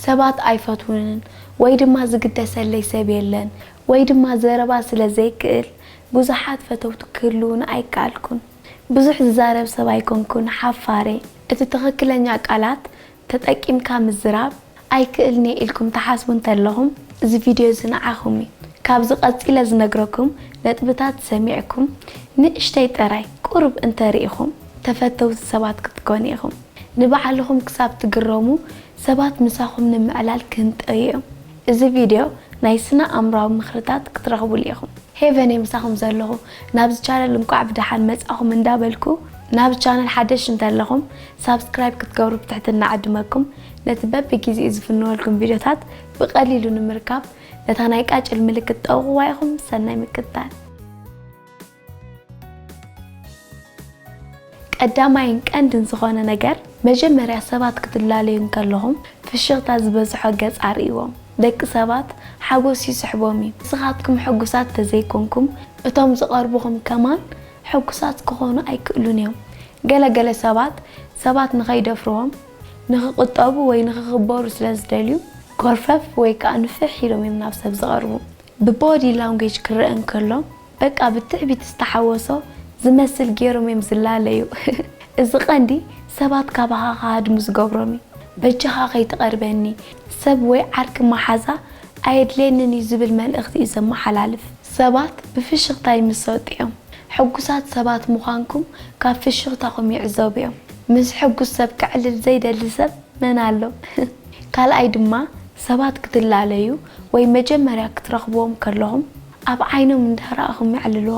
ሰባት ኣይፈትዉንን ወይ ድማ ዝግደሰለይ ሰብ የለን ወይ ድማ ዘረባ ስለ ዘይክእል ብዙሓት ፈተውቲ ክህልዉኒ ኣይከኣልኩን። ብዙሕ ዝዛረብ ሰብ ኣይኮንኩን ሓፋር'የ። እቲ ትኽክለኛ ቃላት ተጠቂምካ ምዝራብ ኣይክእልን'የ ኢልኩም ትሓስቡ እንተለኹም እዚ ቪድዮ'ዚ ንዓኹም'ዩ። ካብዚ ቀጺለ ዝነግረኩም ነጥብታት ሰሚዕኩም ንእሽተይ ጥራይ ቁሩብ እንተርኢኹም ተፈተውቲ ሰባት ክትኮኑ ኢኹም። ንባዕልኹም ክሳብ ትግረሙ ሰባት ምሳኹም ንምዕላል ክህንጠዩ እዮም እዚ ቪድዮ ናይ ስነ ኣእምራዊ ምኽርታት ክትረኽቡሉ ኢኹም። ሄቨን እየ ምሳኹም ዘለኹ ናብዚ ቻነል እንቋዕ ብደሓን መጻኹም እንዳ በልኩ ናብዚ ቻነል ሓደሽቲ እንተለኹም ሳብስክራይብ ክትገብሩ ብትሕትና እዕድመኩም ነቲ በቢ ጊዚኡ ዝፍንወልኩም ቪድዮታት ብቀሊሉ ንምርካብ ነታ ናይ ቃጭል ምልክት ጠውቕዋ ኢኹም ሰናይ ምክትታል። ቀዳማይን ቀንድን ዝኾነ ነገር መጀመርያ ሰባት ክትላለዩ እንከለኹም ፍሽኽታ ዝበዝሖ ገጽ ኣርእይዎም። ደቂ ሰባት ሓጎስ ይስሕቦም እዩ። ንስኻትኩም ሕጉሳት ተዘይኮንኩም እቶም ዝቐርቡኹም ከማን ሕጉሳት ክኾኑ ኣይክእሉን እዮም። ገለ ገለ ሰባት ሰባት ንኸይደፍርዎም ንኽቑጠቡ ወይ ንኽኽበሩ ስለ ዝደልዩ ኮርፈፍ ወይ ከኣ ንፍሕ ኢሎም እዮም ናብ ሰብ ዝቐርቡ። ብቦዲ ላንጉጅ ክረኣ እንከሎ፣ በቃ ብትዕቢት ዝተሓወሶ ዝመስል ጌሮም እዮም ዝላለዩ እዚ ቀንዲ ሰባት ካባኻ ክሃድሙ ዝገብሮም እዩ በጃኻ ከይትቀርበኒ ሰብ ወይ ዓርኪ ማሓዛ ኣየድልየንን እዩ ዝብል መልእኽቲ እዩ ዘማሓላልፍ። ሰባት ብፍሽኽታ ይምሰጡ እዮም ሕጉሳት ሰባት ምዃንኩም ካብ ፍሽኽታኹም ይዕዘቡ እዮም ምስ ሕጉስ ሰብ ከዕልል ዘይደሊ ሰብ መን ኣሎ ካልኣይ ድማ ሰባት ክትላለዩ ወይ መጀመርያ ክትረኽብዎም ከለኹም ኣብ ዓይኖም እንዳ ረኣኹ ምዕልሎ።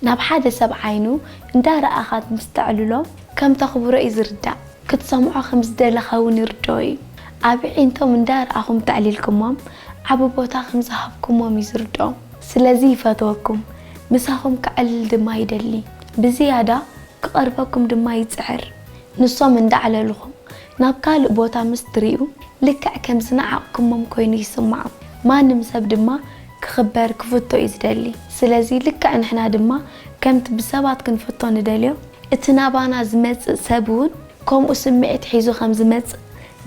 ናብ ሓደ ሰብ ዓይኑ እንዳ ረኣኻ ምስ ተዕልሎ ከም ተኽብሮ እዩ ዝርዳእ። ክትሰምዖ ከም ዝደለኻ እውን ይርድኦ እዩ። ኣብ ኣዒንቶም እንዳ ረኣኹም እንተዕሊልኩሞም ዓቢ ቦታ ከም ዝሃብኩሞም እዩ ዝርድኦም። ስለዚ ይፈትወኩም፣ ምሳኹም ከዕልል ድማ ይደሊ። ብዝያዳ ክቐርበኩም ድማ ይጽዕር። ንሶም እንዳ ኣዕለልኹም ናብ ካልእ ቦታ ምስ ትርእዩ ልክዕ ከም ዝነዓቕኩሞም ኮይኑ ይስምዖም። ማንም ሰብ ድማ ክኽበር ክፍቶ እዩ ዝደሊ ስለዚ ልክዕ ንሕና ድማ ከምቲ ብሰባት ክንፍቶ ንደልዮ እቲ ናባና ዝመጽእ ሰብ ውን ከምኡ ስምዒት ሒዙ ከም ዝመጽእ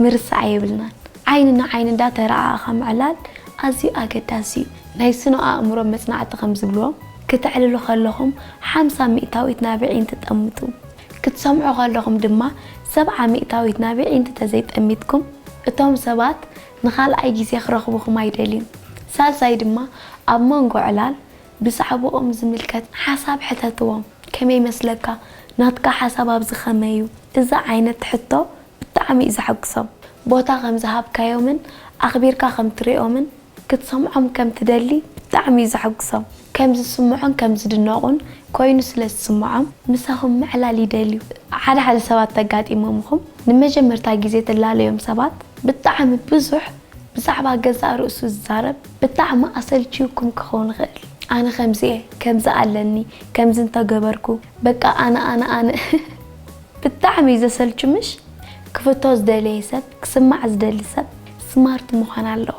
ምርሳዕ የብልናን ዓይኒ ንዓይኒ እንዳ ተራኣኣኻ ምዕላል ኣዝዩ ኣገዳሲ እዩ ናይ ስነ ኣእምሮ መጽናዕቲ ከም ዝብልዎ ክተዕልሉ ከለኹም ሓምሳ ሚእታዊት ናብ ኣዒንቲ ጠምቱ ክትሰምዑ ከለኹም ድማ ሰብዓ ሚእታዊት ናብ ኣዒንቲ ተዘይ ጠሚትኩም እቶም ሰባት ንኻልኣይ ግዜ ክረኽቡኹም ኣይደልዩን። ሳልሳይ ድማ ኣብ መንጎ ዕላል ብዛዕብኦም ዝምልከት ሓሳብ ሕተትዎም። ከመይ ይመስለካ? ናትካ ሓሳብ ኣብዚ ከመይ እዩ? እዚ ዓይነት ሕቶ ብጣዕሚ እዩ ዘሐጉሶም። ቦታ ከም ዝሃብካዮምን ኣኽቢርካ ከም ትሪኦምን ክትሰምዖም ከም ትደሊ ብጣዕሚ እዩ ዘሐጉሶም። ከም ዝስምዖን ከም ዝድነቑን ኮይኑ ስለ ዝስምዖም። ምሳኹም ምዕላል ይደልዩ። ሓደ ሓደ ሰባት ተጋጢሞምኹም ንመጀመርታ ግዜ ትላለዮም ሰባት ብጣዕሚ ብዙሕ ብዛዕባ ገዛእ ርእሱ ዝዛረብ ብጣዕሚ ኣሰልችዩኩም ክኸውን ይኽእል ኣነ ከምዚ እየ ከምዚ ኣለኒ ከምዚ እንተገበርኩ በቃ ኣነ ኣነ ኣነ ብጣዕሚ እዩ ዘሰልቹ ምሽ ክፍቶ ዝደለየ ሰብ ክስማዕ ዝደሊ ሰብ ስማርት ምዃን ኣለዎ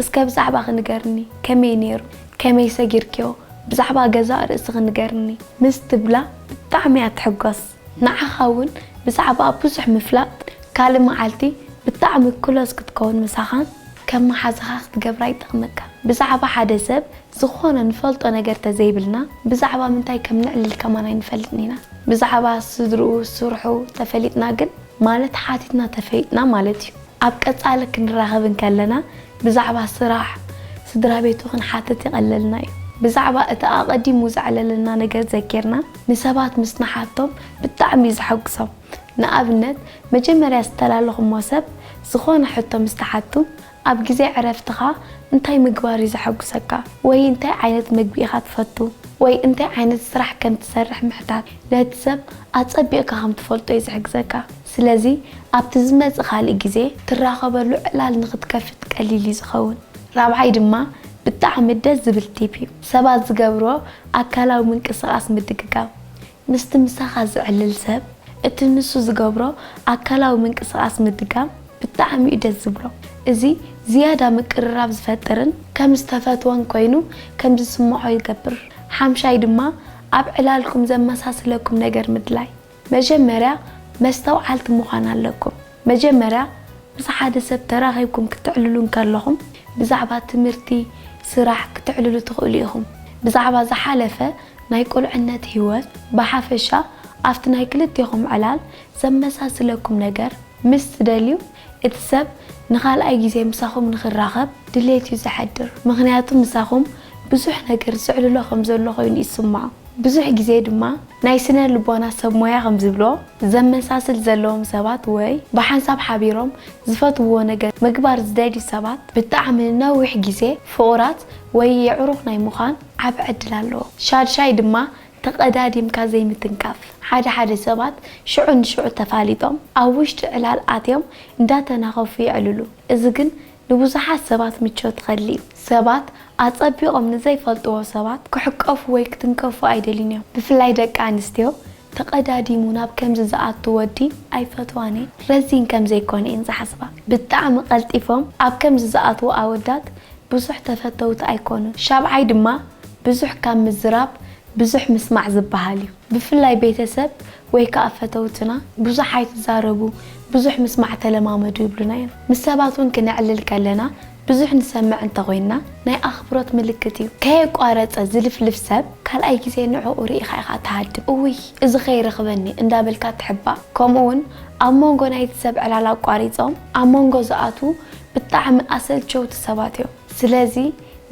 እስከ ብዛዕባኺ ንገርኒ ከመይ ነይሩ ከመይ ሰጊርክዮ ብዛዕባ ገዛእ ርእስኺ ንገርኒ ምስ ትብላ ብጣዕሚ እያ ትሕጎስ ንዓኻ ውን ብዛዕባኣ ብዙሕ ምፍላጥ ካልእ መዓልቲ ብጣዕሚ ክሎዝ ክትከውን ምሳኻን ከም መሓዛኻ ክትገብራ ይጠቕመካ ብዛዕባ ሓደ ሰብ ዝኾነ ንፈልጦ ነገር ተዘይብልና ብዛዕባ ምንታይ ከም ነዕልል ከማን ኣይንፈልጥን ኢና ብዛዕባ ስድርኡ ስርሑ ተፈሊጥና ግን ማለት ሓቲትና ተፈሊጥና ማለት እዩ። ኣብ ቀጻሊ ክንራኸብ እንከለና ብዛዕባ ስራሕ፣ ስድራቤቱ ክንሓትት ይቐለልና እዩ። ብዛዕባ እቲ ኣቐዲሙ ዘዕለለና ነገር ዘኪርና ንሰባት ምስ ንሓቶም ብጣዕሚ እዩ ዘሐጉሶም። ንኣብነት መጀመርያ ዝተላለኹሞ ሰብ ዝኾነ ሕቶ ምስ ትሓቱ ኣብ ግዜ ዕረፍትኻ እንታይ ምግባር እዩ ዘሐጕሰካ? ወይ እንታይ ዓይነት መግቢ ኢኻ ትፈቱ? ወይ እንታይ ዓይነት ስራሕ ከም ትሰርሕ ምሕታት፣ ነቲ ሰብ ኣጸቢቕካ ከም ትፈልጦ እዩ ዝሕግዘካ። ስለዚ፣ ኣብቲ ዝመጽእ ካልእ ግዜ ትራኸበሉ ዕላል ንኽትከፍት ቀሊል እዩ ዝኸውን። ራብዓይ ድማ ብጣዕሚ ደስ ዝብል ቲፕ እዩ፣ ሰባት ዝገብርዎ ኣካላዊ ምንቅስቓስ ምድግጋም። ምስቲ ምሳኻ ዝዕልል ሰብ እቲ ንሱ ዝገብሮ ኣካላዊ ምንቅስቓስ ምድጋም ብጣዕሚ'ዩ ደስ ዝብሎ። እዚ ዝያዳ ምቅርራብ ዝፈጥርን ከም ዝተፈትወን ኮይኑ ከም ዝስምዖ ይገብር። ሓምሻይ ድማ ኣብ ዕላልኩም ዘመሳስለኩም ነገር ምድላይ። መጀመርያ መስተውዓልቲ ምዃን ኣለኩም። መጀመርያ ምስ ሓደ ሰብ ተራኺብኩም ክተዕልሉ እንከለኹም ብዛዕባ ትምህርቲ፣ ስራሕ ክተዕልሉ ትኽእሉ ኢኹም። ብዛዕባ ዝሓለፈ ናይ ቁልዕነት ህይወት፣ ብሓፈሻ ኣብቲ ናይ ክልቴኹም ዕላል ዘመሳስለኩም ነገር ምስ ትደልዩ እቲ ሰብ ንኻልኣይ ግዜ ምሳኹም ንኽራኸብ ድሌት እዩ ዘሕድር። ምኽንያቱ ምሳኹም ብዙሕ ነገር ዘዕልሎ ከም ዘሎ ኮይኑ ይስምዖ። ብዙሕ ግዜ ድማ ናይ ስነ ልቦና ሰብ ሞያ ከም ዝብልዎ፣ ዘመሳስል ዘለዎም ሰባት ወይ ብሓንሳብ ሓቢሮም ዝፈትውዎ ነገር ምግባር ዝደልዩ ሰባት ብጣዕሚ ንነዊሕ ግዜ ፍቑራት ወይ የዕሩኽ ናይ ምዃን ዓቢ ዕድል ኣለዎም። ሻድሻይ ድማ ተቐዳዲምካ ዘይምትንካፍ። ሓደ ሓደ ሰባት ሽዑ ንሽዑ ተፋሊጦም ኣብ ውሽጢ ዕላል ኣትዮም እንዳተናኸፉ የዕልሉ። እዚ ግን ንብዙሓት ሰባት ምቾት ኸሊ እዩ። ሰባት ኣጸቢቖም ንዘይፈልጥዎ ሰባት ክሕቀፉ ወይ ክትንከፉ ኣይደልዩን እዮም። ብፍላይ ደቂ ኣንስትዮ ተቐዳዲሙ ናብ ከምዚ ዝኣቱ ወዲ ኣይፈትዋን እየን። ረዚን ከም ዘይኮነ እየን ዝሓስባ። ብጣዕሚ ቀልጢፎም ኣብ ከምዚ ዝኣትዉ ኣወዳት ብዙሕ ተፈተውቲ ኣይኮኑን። ሻብዓይ ድማ ብዙሕ ካብ ምዝራብ ብዙሕ ምስማዕ ዝበሃል እዩ። ብፍላይ ቤተሰብ ወይ ከኣ ፈተውትና ብዙሕ ኣይትዛረቡ ብዙሕ ምስማዕ ተለማመዱ ይብሉና እዮም። ምስ ሰባት እውን ክነዕልል ከለና ብዙሕ ንሰምዕ እንተ ኾይንና ናይ ኣኽብሮት ምልክት እዩ። ከየቋረጸ ዝልፍልፍ ሰብ ካልኣይ ግዜ ንዕኡ ርኢኻ ኢኻ እትሃድም። እውይ እዚ ከይረኽበኒ እንዳበልካ ትሕባእ። ከምኡ እውን ኣብ መንጎ ናይቲ ሰብ ዕላል ኣቋሪጾም ኣብ መንጎ ዝኣትዉ ብጣዕሚ ኣሰልቸውቲ ሰባት እዮም። ስለዚ።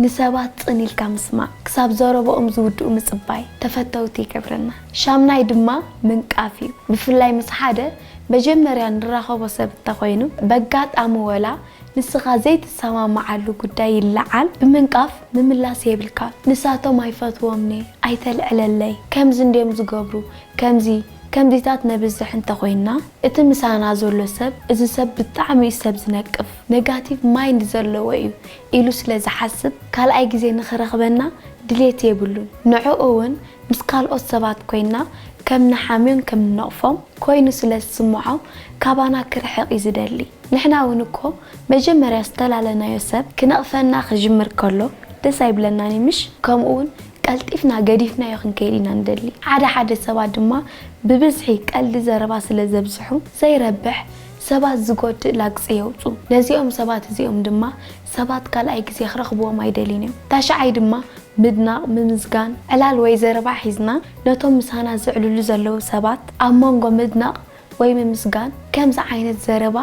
ንሰባት ጽን ኢልካ ምስማዕ፣ ክሳብ ዘረብኦም ዝውድኡ ምጽባይ ተፈተውቲ ይገብረና። ሻምናይ ድማ ምንቃፍ እዩ። ብፍላይ ምስ ሓደ መጀመርያ ንራኸቦ ሰብ እንተኾይኑ፣ በጋጣሚ ወላ ንስኻ ዘይትሰማምዓሉ ጉዳይ ይለዓል፣ ብምንቃፍ ምምላስ የብልካን። ንሳቶም ኣይፈትዎምን'የ፣ ኣይተልዕለለይ፣ ከምዚ እንድዮም ዝገብሩ፣ ከምዚ ከምዚታት ነብዝሕ እንተኾይንና፣ እቲ ምሳና ዘሎ ሰብ እዚ ሰብ ብጣዕሚ'ዩ ሰብ ዝነቅፍ፣ ነጋቲቭ ማይንድ ዘለዎ እዩ፣ ኢሉ ስለ ዝሓስብ ካልኣይ ግዜ ንኽረኽበና ድሌት የብሉን። ንዕኡ'ውን ምስ ካልኦት ሰባት ኮይንና ከም ንሓምዮን ከም ንነቕፎም ኮይኑ ስለ ዝስምዖ ካባና ክርሕቕ እዩ ዝደሊ። ንሕና'ውን እኮ መጀመርያ ዝተላለናዮ ሰብ ክነቕፈና ክጅምር ከሎ ደስ ኣይብለናን እዩ ምሽ? ከምኡ'ውን ቀልጢፍና ገዲፍናዮ ክንከይድ ኢና ንደሊ። ሓደ ሓደ ሰባት ድማ ብብዝሒ ቀልዲ ዘረባ ስለ ዘብዝሑ ዘይረብሕ ሰባት ዝጎድእ ላግጺ የውጽኡ። ነዚኦም ሰባት እዚኦም ድማ ሰባት ካልኣይ ግዜ ክረኽብዎም ኣይደልዩን እዮም። ታሽዓይ ድማ ምድናቕ፣ ምምስጋን፣ ዕላል ወይ ዘረባ ሒዝና ነቶም ምሳና ዝዕልሉ ዘለዉ ሰባት ኣብ መንጎ ምድናቕ ወይ ምምስጋን ከምዚ ዓይነት ዘረባ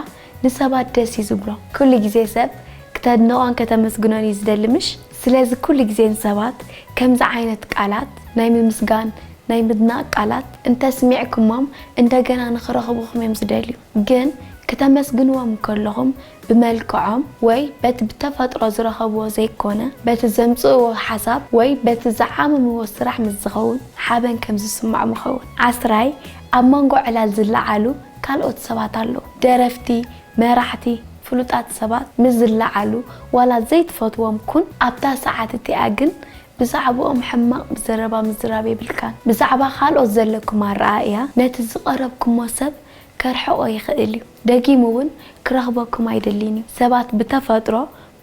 ንሰባት ደስ እዩ ዝብሎም። ኩሉ ግዜ ሰብ ክተድንቖን ከተመስግኖን እዩ ዝደሊ ምሽ? ስለዚ ኩሉ ግዜ ንሰባት ከምዚ ዓይነት ቃላት፣ ናይ ምምስጋን፣ ናይ ምድናቕ ቃላት እንተስሚዕኩሞም እንደገና ንኽረኽቡኹም እዮም ዝደልዩ። ግን ክተመስግንዎም እንከለኹም ብመልክዖም ወይ በቲ ብተፈጥሮ ዝረኸብዎ ዘይኮነ በቲ ዘምጽእዎ ሓሳብ ወይ በቲ ዝዓመምዎ ስራሕ ምስ ዝኸውን ሓበን ከም ዝስምዖም ይኸውን። ዓስራይ፣ ኣብ መንጎ ዕላል ዝለዓሉ ካልኦት ሰባት ኣለዉ። ደረፍቲ፣ መራሕቲ ፍሉጣት ሰባት ምስ ዝለዓሉ ዋላ ዘይትፈትዎም ኩን ኣብታ ሰዓት እቲኣ ግን ብዛዕብኦም ሕማቕ ዘረባ ምዝራብ የብልካን። ብዛዕባ ካልኦት ዘለኩም ኣረኣእያ ነቲ ዝቐረብኩሞ ሰብ ከርሕቖ ይኽእል እዩ። ደጊሙ እውን ክረኽበኩም ኣይደሊን እዩ። ሰባት ብተፈጥሮ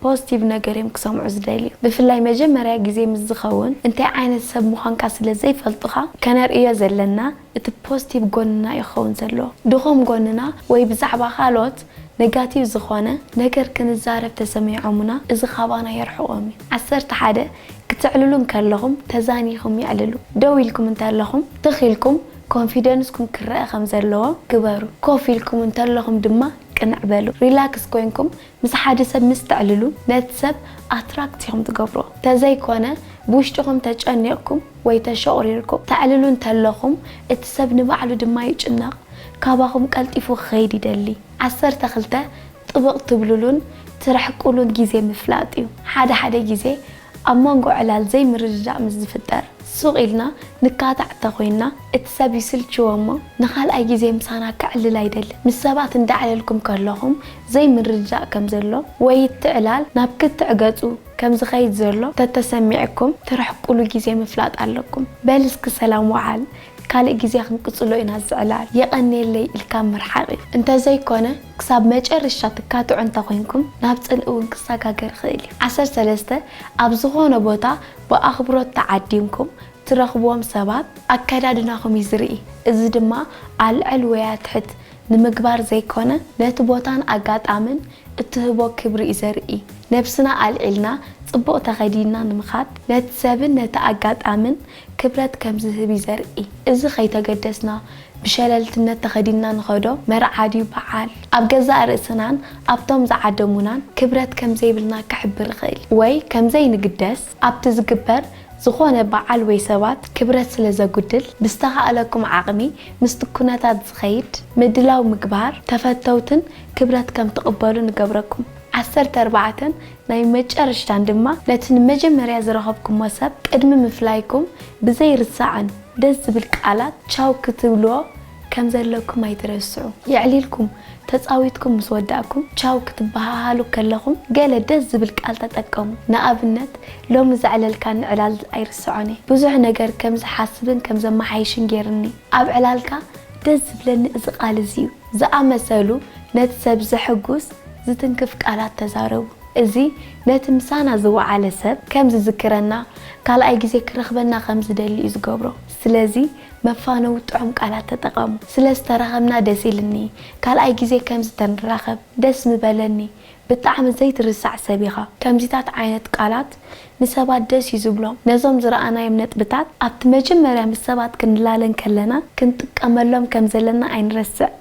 ፖዝቲቭ ነገር እዮም ክሰምዑ ዝደልዩ ብፍላይ መጀመርያ ግዜ ምስ ዝከውን እንታይ ዓይነት ሰብ ምኳንካ ስለ ዘይፈልጡካ ከነርእዮ ዘለና እቲ ፖዝቲቭ ጎንና እዩ ክከውን ዘለዎ ድኩም ጎንና ወይ ብዛዕባ ካልኦት ነጋቲቭ ዝኮነ ነገር ክንዛረብ ተሰሚዖሙና እዚ ካባና የርሕቆም እዩ ዓሰርተ ሓደ ክተዕልሉ እንከለኩም ተዛኒኩም የዕልሉ ደው ኢልኩም እንተለኩም ትክ ኢልኩም ኮንፊደንስኩም ክረኣ ከም ዘለዎ ግበሩ ኮፍ ኢልኩም እንተለኩም ድማ ቅንዕ በሉ ሪላክስ ኮይንኩም ምስ ሓደ ሰብ ምስ ተዕልሉ ነቲ ሰብ ኣትራክት ኢኹም ትገብርዎ ተዘይኮነ ብውሽጥኹም ተጨኒቕኩም ወይ ተሸቑሪርኩም ተዕልሉ እንተለኹም እቲ ሰብ ንባዕሉ ድማ ይጭነቕ ካባኹም ቀልጢፉ ክኸይድ ይደሊ። ዓሰርተ ክልተ ጥብቕ ትብልሉን ትርሕቅሉን ግዜ ምፍላጥ እዩ። ሓደ ሓደ ግዜ ኣብ መንጎ ዕላል ዘይምርድዳእ ምስ ዝፍጠር ሱቕ ኢልና ንካታዕ እንተኾይንና እቲ ሰብ ይስልችዎ እሞ ንኻልኣይ ግዜ ምሳና ከዕልል ኣይደልን። ምስ ሰባት እንዳዕለልኩም ከለኹም ዘይምርድዳእ ከም ዘሎ ወይ እቲ ዕላል ናብ ክትዕ ገጹ ከም ዝኸይድ ዘሎ ተተሰሚዕኩም ትርሕቁሉ ግዜ ምፍላጥ ኣለኩም። በል እስኪ ሰላም ወዓል ካልእ ግዜ ክንቅጽሎ ኢና እዚ ዕላል የቐንየለይ ኢልካ ምርሓቕ እዩ እንተዘይኮነ ክሳብ መጨርሻ ትካትዑ እንተ ኾይንኩም ናብ ጽልኢ እውን ክሰጋገር ይኽእል እዩ። ዓሰርተ ሰለስተ ኣብ ዝኾነ ቦታ ብኣኽብሮት ተዓዲምኩም ትረኽብዎም ሰባት ኣከዳድናኹም እዩ ዝርኢ። እዚ ድማ ኣልዕል ወይ ኣትሕት ንምግባር ዘይኮነ ነቲ ቦታን ኣጋጣምን እትህቦ ክብሪ እዩ ዘርኢ። ነብስና ኣልዒልና ጽቡቕ ተኸዲንና ንምኻድ ነቲ ሰብን ነቲ ኣጋጣምን ክብረት ከም ዝህብ እዩ ዘርኢ። እዚ ከይተገደስና ብሸለልትነት ተኸዲንና ንኸዶ መርዓ ድዩ በዓል፣ ኣብ ገዛእ ርእስናን ኣብቶም ዝዓደሙናን ክብረት ከም ዘይብልና ክሕብር እኽእል። ወይ ከም ዘይንግደስ ኣብቲ ዝግበር ዝኾነ በዓል ወይ ሰባት ክብረት ስለ ዘጉድል ብዝተኻእለኩም ዓቕሚ ምስቲ ኩነታት ዝኸይድ ምድላው ምግባር ተፈተውትን ክብረት ከም ትቕበሉ ንገብረኩም። ዓሰርተ ኣርባዕተ ናይ መጨረሽታን ድማ ነቲ ንመጀመርያ ዝረኸብኩሞ ሰብ ቅድሚ ምፍላይኩም ብዘይርሳዕን ደስ ዝብል ቃላት ቻው ክትብልዎ ከም ዘለኩም ኣይትረስዑ። የዕሊልኩም ተጻዊትኩም ምስ ወዳእኩም ቻው ክትበሃሃሉ ከለኹም ገለ ደስ ዝብል ቃል ተጠቀሙ። ንኣብነት ሎሚ ዘዕለልካኒ ዕላል ኣይርስዖን'የ። ብዙሕ ነገር ከም ዝሓስብን ከም ዘመሓይሽን ጌሩኒ። ኣብ ዕላልካ ደስ ዝብለኒ እዚ ቃል እዚ'ዩ። ዝኣመሰሉ ነቲ ሰብ ዘሐጕስ ዝትንክፍ ቃላት ተዛረቡ። እዚ ነቲ ምሳና ዝወዓለ ሰብ ከም ዝዝክረና፣ ካልኣይ ግዜ ክረኽበና ከም ዝደሊ እዩ ዝገብሮ። ስለዚ መፋነዊ ጥዑም ቃላት ተጠቐሙ። ስለ ዝተራኸብና ደስ ኢልኒ፣ ካልኣይ ግዜ ከምዚ ተንራኸብ ደስ ምበለኒ፣ ብጣዕሚ ዘይትርሳዕ ሰብ ኢኻ። ከምዚታት ዓይነት ቃላት ንሰባት ደስ እዩ ዝብሎም። ነዞም ዝረኣናዮም ነጥብታት ኣብቲ መጀመርያ ምስ ሰባት ክንላለ እንከለና ክንጥቀመሎም ከም ዘለና ኣይንረስዕ።